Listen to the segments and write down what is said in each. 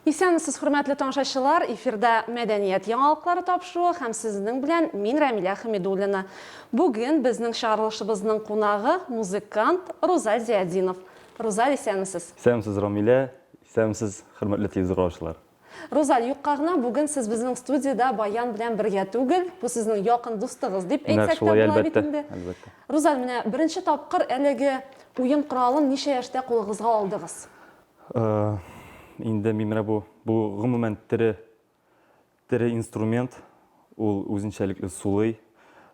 Исәнмесез, хөрмәтле тамашачылар! Эфирда мәдәният яңалыклары тапшыруы һәм сезнең белән мин Рәмилә Хәмидуллина. Бүген безнең чыгарылышыбызның кунагы музыкант Рузаль Зиадинов. Рузаль, исәнмесез! Исәнмесез, Рамилә! Исәнмесез, хөрмәтле телевизор караучылар! Рузаль, юкка гына, бүген сез безнең студиядә Баян белән бергә түгел, бу сезнең якын дустыгыз дип әйтсәк тә була бит инде. Рузаль, менә беренче тапкыр әлеге уен коралын ничә яшьтә кулыгызга алдыгыз? Инде мин менә бу, бу гомумән тере Тере инструмент, ул үзенчәлекле сулый.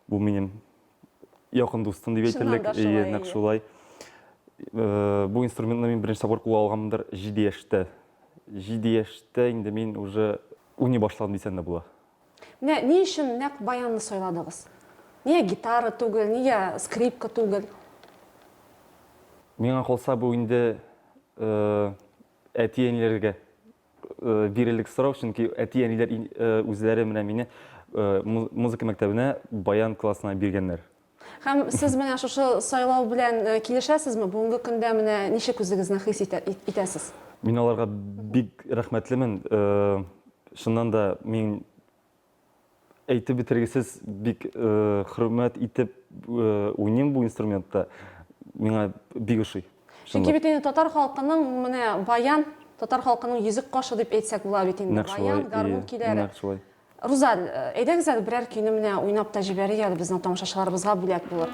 Бу минем якын дустым дип әйтерлек, әйе, нәкъ шулай. Э, бу инструментны мин беренче тапкыр кулга алганмындыр 7 яшьтә. 7 яшьтә инде мин уже уйный башладым дисәң дә була. Менә ни өчен нәкъ баянны сайладыгыз? Нигә гитара түгел, нигә скрипка түгел? Миңа калса бу инде э, әти-әниләргә Э, бирелек сорау, чөнки әти-әниләр э, үзләре менә мине э, музыка мәктәбенә баян классына биргәннәр. Һәм сез менә шушы сайлау белән килешәсезме? Бүгенге көндә менә ничек үзегезне хис итәсез? Мин аларга бик рәхмәтлемен. Шуннан да мин Әйтеп бетергесез бик хөрмәт итеп уйныйм бу инструментта. Миңа бик ошый. Чөнки бит инде татар халкының менә баян, татар халкының йөзек кашы дип әйтсәк була бит инде. Баян, гармун көйләре. Нәкъ шулай. Рузаль, әйдәгез әле берәр көйне менә уйнап та җибәрик әле безнең тамашачыларыбызга бүләк булыр.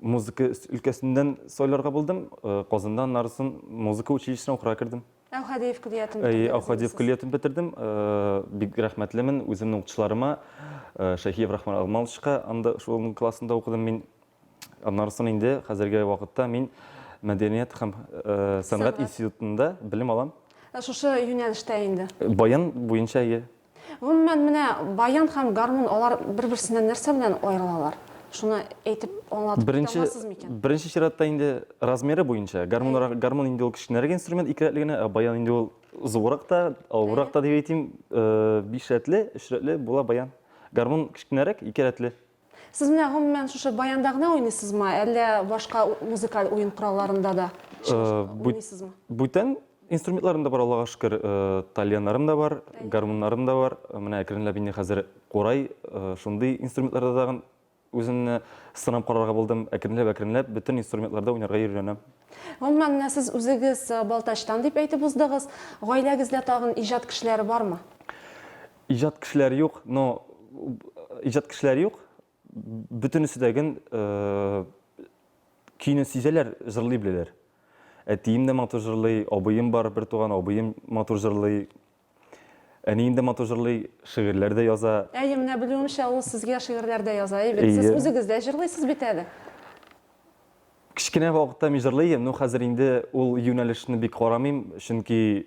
Музыка өлкәсеннән сайларга булдым. Э, Казанда аннары соң музыка училищесына укырга кердем. Әүхәдиев көллиятен Әй, бетердегез Ахадиев инде көллиятен бетердем. Э, Бик рәхмәтлемен үземнең укытучыларыма, э, Шәйхиев Рахман Алмалычка, анда шуның классында укыдым мин. Аннары соң инде хәзерге вакытта мин мәдәният һәм э, сәнгать Сәнгать. институтында белем алам. сез. Э, Шушы юнәлештә инде. Баян буенча, әйе. Гомумән, менә баян һәм гармун, алар бер-берсеннән нәрсә белән аерылалар? Шуны әйтеп аңлатып китә Беренче, алмассыз микән? беренче чиратта инде размеры буенча. Гармунрак, гармун инде ул кечкенәрәк инструмент, ике рәтле генә, ә баян инде ул зуррак та, авыррак та дип әйтим. Биш рәтле, өч рәтле була баян. Гармун кечкенәрәк, ике рәтле. Сез менә гомумән шушы баянда гына уйныйсызмы, әллә башка музыкаль уен коралларында да уйныйсызмы? Бүтән инструментларым да бар, Аллага шөкер, тальяннарым да бар, гармуннарым да бар. Менә әкренләп инде хәзер курай, шундый инструментларда тагын үземне сынап карарга булдым. Әкренләп-әкренләп бөтен инструментларда уйнарга өйрәнәм. Гомумән, менә сез үзегез Балтачтан дип әйтеп уздыгыз. Гаиләгездә тагын иҗат кешеләре бармы? Иҗат кешеләре юк, но иҗат кешеләре юк. Бөтенесе дә гел көйне сизәләр, җырлый беләләр. Әтием дә матур җырлый, абыем бар, бер туган абыем матур җырлый. Әнием дә матур җырлый, шигырьләр дә яза. Әйе, менә белүемчә, ул сезгә шигырьләр дә яза, әйе бит? Сез үзегез дә җырлыйсыз бит әле. Кечкенә вакытта мин җырлый идем, но хәзер инде ул юнәлешне бик карамыйм, чөнки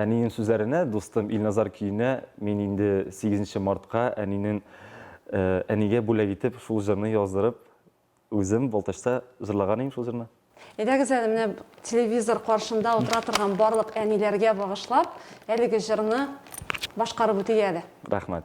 Әнинең сүзләренә, дустым Илназар көенә мин инде сигезенче мартка әнинең әнигә бүләк итеп шул җырны яздырып, үзем Балтачта җырлаган идем шул җырны. Әйдәгез әле менә телевизор каршында утыра торган барлык әниләргә багышлап әлеге җырны башкарып үтик әле. Рәхмәт.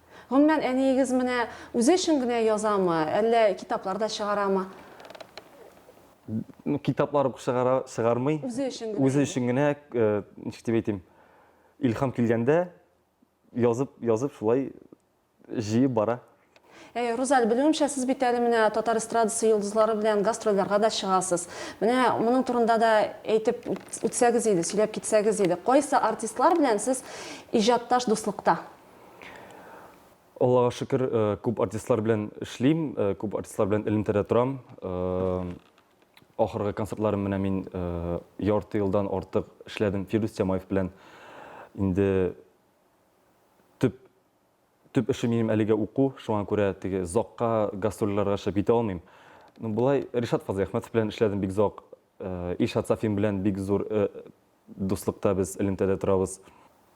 Гомумән, әниегез менә үзе өчен генә язамы, әллә китаплар да чыгарамы? Ну, китаплар ук чыгара, чыгармый. Үзе өчен генә. Үзе өчен генә, ничек дип әйтим, илһам килгәндә язып, язып шулай җыеп бара. Әй, Рузаль, белүемчә, сез бит әле менә татар эстрадасы йолдызлары белән гастрольләргә дә чыгасыз. Менә моның турында да әйтеп үтсәгез иде, сөйләп китсәгез иде. Кайсы артистлар белән сез иҗатташ дуслыкта? Аллага шөкер, э, күп артистлар белән эшлим, э, күп артистлар белән элемтәдә торам. Э, ахыргы концертларым менә мин ярты елдан артык эшләдем Фирдүс Тямаев белән. Инде төп төп эше минем әлегә уку, шуңа күрә теге зокка гастрольләргә чыгып китә алмыйм. Ну, булай Ришат Фазыйхмәтов белән эшләдем бик зок. Ильшат Сафин белән бик зур Дуслыкта без элемтәдә торабыз.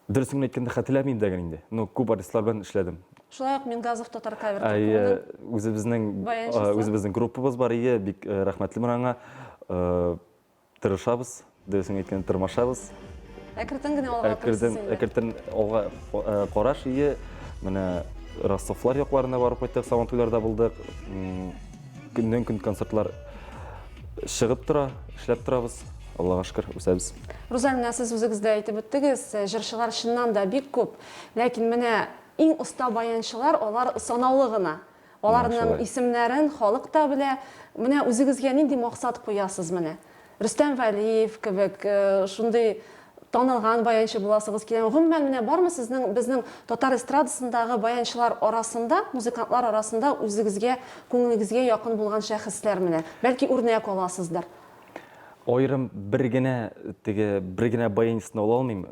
Дөресен әйткәндә, хәтерләмим дә гел инде. Ну, күп артистлар белән эшләдем. Шулай ук Мингазов татар кавер труппаның үзебезнең баянчысы. Үзебезнең группабыз бар иде, бик рәхмәтлемен аңа. Тырышабыз, дөресен әйткәндә, тырмашабыз. Әкертен генә алга тырышабыз инде. Әкертен алга караш, ие. Менә Ростовлар якларына барып кайттык, Сабантуйларда булдык. Көннән-көн концертлар чыгып тора, эшләп торабыз. Аллага шөкер, үсәбез. Руза, менә сез үзегез дә әйтеп үттегез, җырчылар чыннан да бик күп, ләкин менә иң оста баянчылар, алар санаулы гына. Аларның исемнәрен халык та белә. Менә үзегезгә нинди максат куясыз менә? Рөстәм Вәлиев кебек шундый танылган баянчы буласыгыз киләме? Гомумән, менә бармы сезнең безнең татар эстрадасындагы баянчылар арасында, музыкантлар арасында үзегезгә, күңелегезгә якын булган шәхесләр менә? Бәлки үрнәк аласыздыр? Аерым бер генә теге бер генә баянчыны ала алмыйм.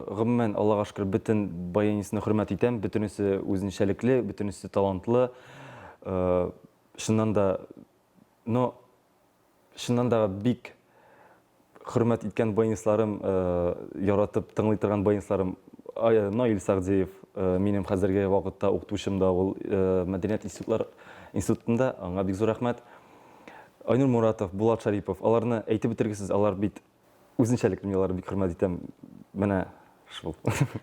Гомумән, Аллага шөкер, бөтен баянчыны хөрмәт итәм, бөтенесе үзенчәлекле, бөтенесе талантлы. Чыннан да, но Чыннан да бик хөрмәт иткән баянистларым, яратып тыңлый торган баянистларым Наил Сәгъдиев, минем хәзерге вакытта укытучым да ул мәдәният институтлар институтында, аңа бик зур рәхмәт. Айнур Моратов, Булат Шарипов, аларны әйтеп бетергесез, алар бит Үзенчәлекле мин аларны бик хөрмәт итәм. Менә шул.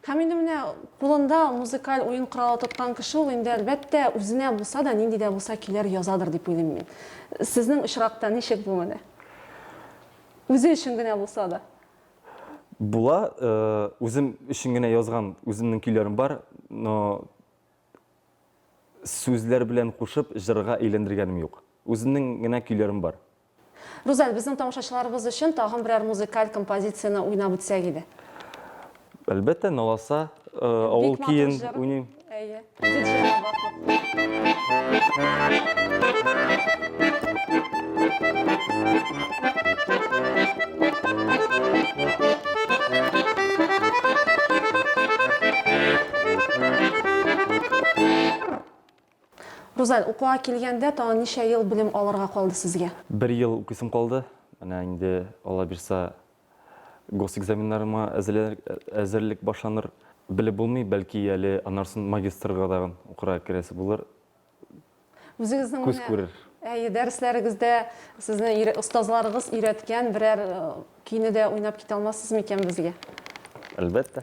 Һәм инде менә кулында музыкаль уен коралы тоткан кеше ул инде әлбәттә үзенә булса да, нинди дә булса көйләр язадыр дип уйлыйм мин. Сезнең очракта ничек бу менә? Үзе өчен генә булса да. Була, э, үзем өчен генә язган үземнең көйләрем бар, но сүзләр белән кушып җырга әйләндергәнем юк. Үземнең генә көйләрем бар. Рузаль, безнең тамашачыларыбыз өчен тагын берәр музыкаль композицияне уйнап үтсәк иде. Әлбәттә, Наласа авыл көен уйныйм. Рузаль, укуга килгәндә, тагын ничә ел белем алырга калды сезгә? Бер ел укыйсым калды. Менә инде, Алла бирса, госэкзаменнарыма әзерлек башланыр. Белеп булмый, бәлки әле аннарсын магистрга тагын укырга керәсе булыр. Үзегезнең менә Күз күрер. Әйе, дәресләрегездә сезне остазларыгыз өйрәткән берәр көйне дә уйнап китә алмассыз микән безгә? Әлбәттә.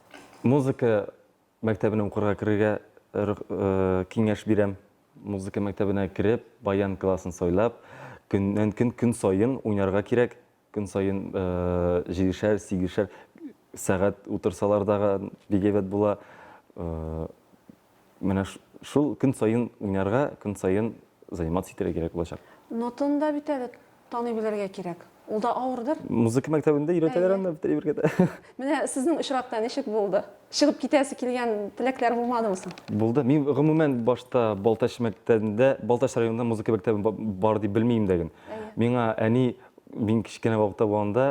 Музыка мәктәбенә укырга керергә киңәш бирәм. Музыка мәктәбенә кереп, баян классын сайлап, көннән-көн, көн саен уйнарга кирәк. Көн саен җидешәр, сигешәр сәгать утырсалар да бик әйбәт була. Менә шул көн саен уйнарга, көн саен заниматься итәргә кирәк булачак. Нотаны да бит әле таный белергә кирәк. Ул да авырдыр. Музыка мәктәбендә өйрәтәләр аны бит әйбергә. Менә сезнең очракта ничек булды? Чыгып китәсе килгән теләкләр булмадымы соң? Булды. Мин гомумән башта Балтач мәктәбендә, Балтач районында музыка мәктәбе бар дип белми идем дә. Миңа әни, мин кечкенә вакытта булганда,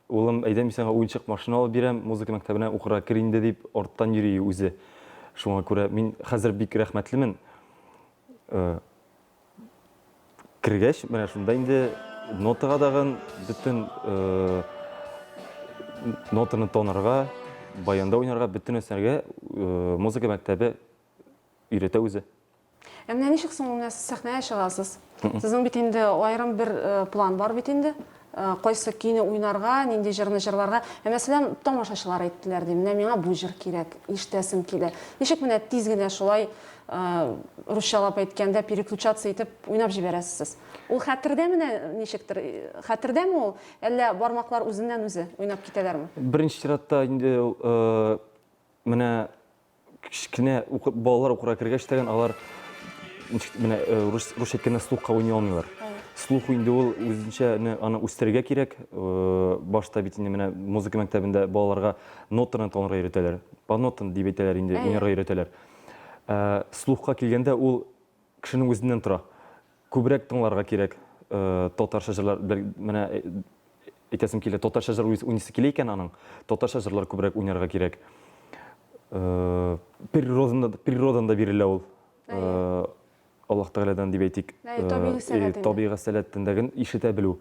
Улым, әйдә мин сиңа уенчык машина алып бирәм, музыка мәктәбенә укырга кер инде, дип арттан йөри үзе. Шуңа күрә мин хәзер бик рәхмәтлемен. Кергәч, менә шунда инде нотага дагын бөтен нотаны танырга, баянда уйнарга, бөтен нәрсәгә музыка мәктәбе өйрәтә үзе. Ә менә ничек соң менә сез сәхнәгә чыгасыз? Сезнең бит инде аерым бер э, план бар бит инде. Э, кайсы көйне уйнарга, нинди җырны җырларга. Ә мәсәлән, тамашачылар әйттеләр ди, менә миңа бу җыр кирәк, ишетәсем килә. Ничек менә тиз генә шулай э, русчалап әйткәндә переключаться итеп уйнап җибәрәсез сез? Ул хәтердә менә ничектер, хәтердәме ул, әллә бармаклар үзеннән-үзе уйнап китәләрме? Беренче чиратта инде менә Кечкенә укып, балалар укырга кергәч тә алар менә э, рус рус әйткәндә слухка уйный алмыйлар. Слух инде ул үзенчә аны үстерергә кирәк. Э, башта бит инде менә музыка мәктәбендә балаларга нотаны танырга өйрәтәләр. По нотам дип әйтәләр инде, уйнарга өйрәтәләр. Э, слухка килгәндә ул Кешенең үзеннән тора. Күбрәк тыңларга кирәк татарча җырлар. Менә әйтәсем килә, татарча җыр уйныйсы килә икән аның, татарча җырлар күбрәк уйнарга кирәк. Природаны, природан да бирелә ул. Аллаһ Тәгаләдән дип әйтик. Табигый сәләтен. Табигый сәләтен дә ишетә белү.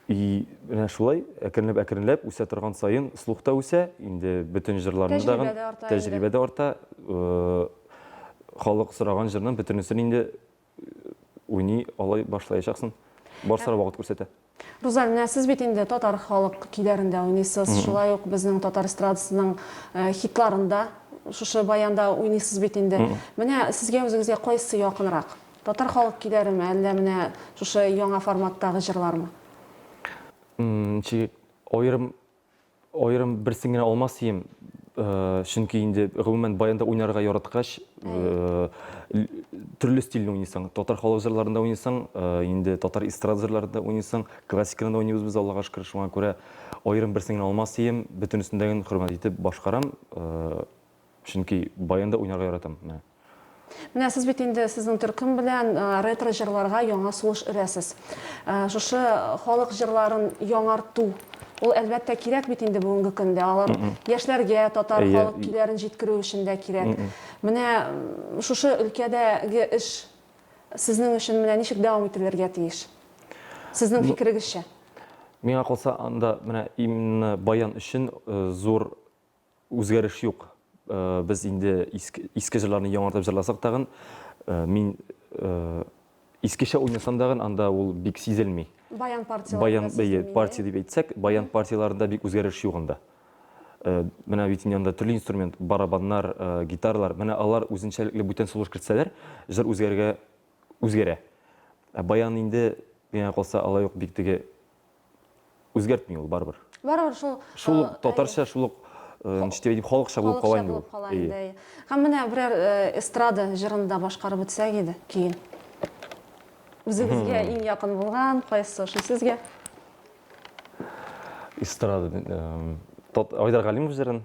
И менә шулай әкренләп әкренләп үсә торган саен слух та үсә, инде бөтен җырларны да Тәҗрибә дә арта инде. тәҗрибә дә арта. Халык сораган җырның бөтенесен инде уйный алай башлаячаксын. Барсы да вакыт күрсәтә. Руза, менә сез бит инде татар халык көйләрендә уйныйсыз, шулай ук безнең татар эстрадасының хитларында шушы баянда уйныйсыз бит инде. Менә сезгә үзегезгә кайсы якынрак? Татар халык көйләреме, әллә менә шушы яңа форматтагы җырлармы? Ничек аерым аерым берсен генә алмас идем, чөнки инде гомумән баянда уйнарга яраткач, төрле стильне уйныйсың. Татар халык җырларында уйныйсың, инде татар эстрада җырларында уйныйсың, классиканы да уйныйбыз без, Аллага шөкер, шуңа күрә аерым берсен генә алмас идем, бөтенесен дә хөрмәт итеп башкарам. Чөнки баянда уйнарга яратам. Менә. Менә сез бит инде сезнең төркем белән ретро җырларга яңа сулыш өрәсез. Шушы халык җырларын яңарту, ул әлбәттә кирәк бит инде бүгенге көндә. Алар яшьләргә татар халык көйләрен җиткерү өчен дә кирәк. Менә шушы өлкәдәге эш сезнең өчен менә ничек дәвам ителергә тиеш? Сезнең фикерегезчә. Миңа калса, анда менә именно баян өчен зур Үзгәреш юк. Без инде иске җырларны яңартып җырласак тагын, мин искечә уйнасам тагын, анда ул бик сизелми. Баян партияләрендә сизелми. Баян партия дип әйтсәк, баян партияләрендә бик үзгәреш юк анда. Менә бит инде анда төрле инструмент, барабаннар, гитаралар, менә алар үзенчәлекле бүтән сулыш кертсәләр, җыр үзгәрергә үзгәрә. Ә баян инде, миңа калса, алай ук бик теге Үзгәртми ул барыбер. Барыбер шул шул татарча шул ук ничек дип халыкча булып кала инде ул. Һәм менә берәр эстрада җырын да башкарып үтсәк иде, көен. Үзегезгә иң якын булган кайсы шул сезгә? Эстрада Айдар Галимов җырын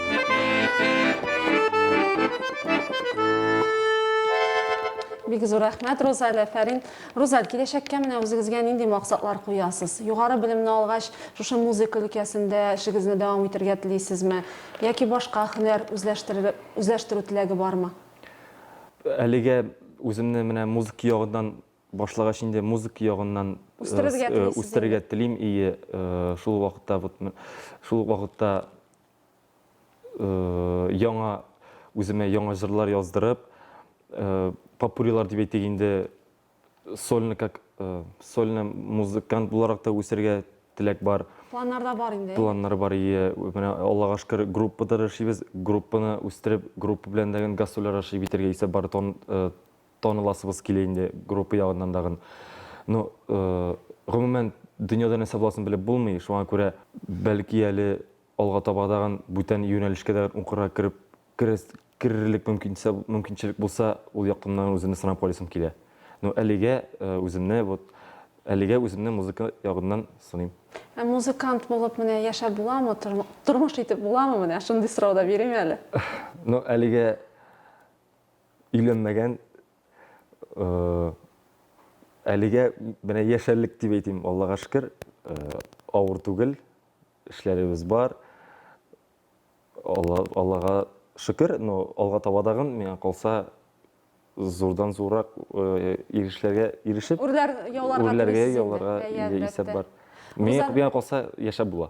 Бик зур рәхмәт, Рузаль, әфәрин. Рузаль, киләчәккә менә үзегезгә нинди максатлар куясыз? Югары белемне алгач, шушы музыка өлкәсендә эшегезне дәвам итергә телисезме? Яки башка һөнәр үзләштерер, үзләштерү теләге бармы? Әлегә үземне менә музыка ягыннан башлагач инде музыка ягыннан Үстерергә э, э, телисез үстерергә телим и э, шул вакытта вот м- шул вакытта яңа үземә яңа җырлар яздырып, попурилар дип әйтик инде, сольный как сольный музыкант буларак та үсәргә теләк бар. Планнарда бар инде. Планнар бар, ие. Менә Аллага шөкер, группа да яшибез. Группаны үстереп, группа белән дә гастрольләр ашый битәргә исә бар таныласыбыз килә инде группа ягыннан дагын. Ну, гомумән, дөньяда нәрсә буласын белеп булмый, шуңа күрә, бәлки әле алга таба дагын бүтән юнәлешкә дә укырга кереп, керерлек мөмкинчелек булса, ул яктымнан үземне сынап карыйсым килә. Ну, әлегә үземне, вот, әлегә үземне музыка ягыннан сыныйм. Ә музыкант булып менә яшәп буламы, тормыш итеп буламы, менә шундый сорау да бирим әле. Ну, әлегә. Өйләнмәгән, әлегә менә яшәрлек дип әйтим, Аллага шөкер, авыр түгел, эшләребез бар. Аллага шөкер, но алга табадагын миңа калса зурдан зуррак ирешләргә ирешеп, үрләргә яуларга исәп бар. Миңа калса яшәп була.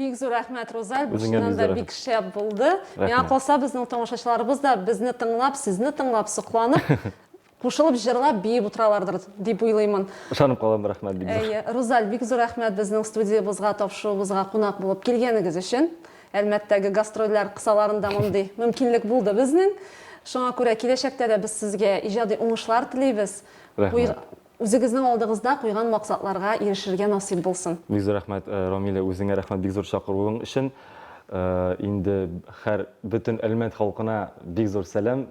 Бик зур рәхмәт, Рузаль. Бушынан да бик шәп булды. Миңа калса, безнең тамашачыларыбыз да безне тыңлап, сезне тыңлап, сокланып, кушылып җырлап биеп утыралардыр дип уйлыймын ышанып калам рәхмәт бик зур әйе рузаль бик зур рәхмәт безнең студиябызга тапшыруыбызга кунак булып килгәнегез өчен Әлмәттәге гастрольләр кысаларында мондый мөмкинлек булды безнең. Шуңа күрә киләчәктә дә без сезгә иҗади уңышлар телибез. Рәхмәт. Үзегезнең алдыгызда куйган максатларга ирешергә насыйп булсын. Бик зур рәхмәт, Рамилә, үзеңә рәхмәт бик зур чакыруың өчен. Инде һәр, бөтен Әлмәт халкына бик зур сәлам.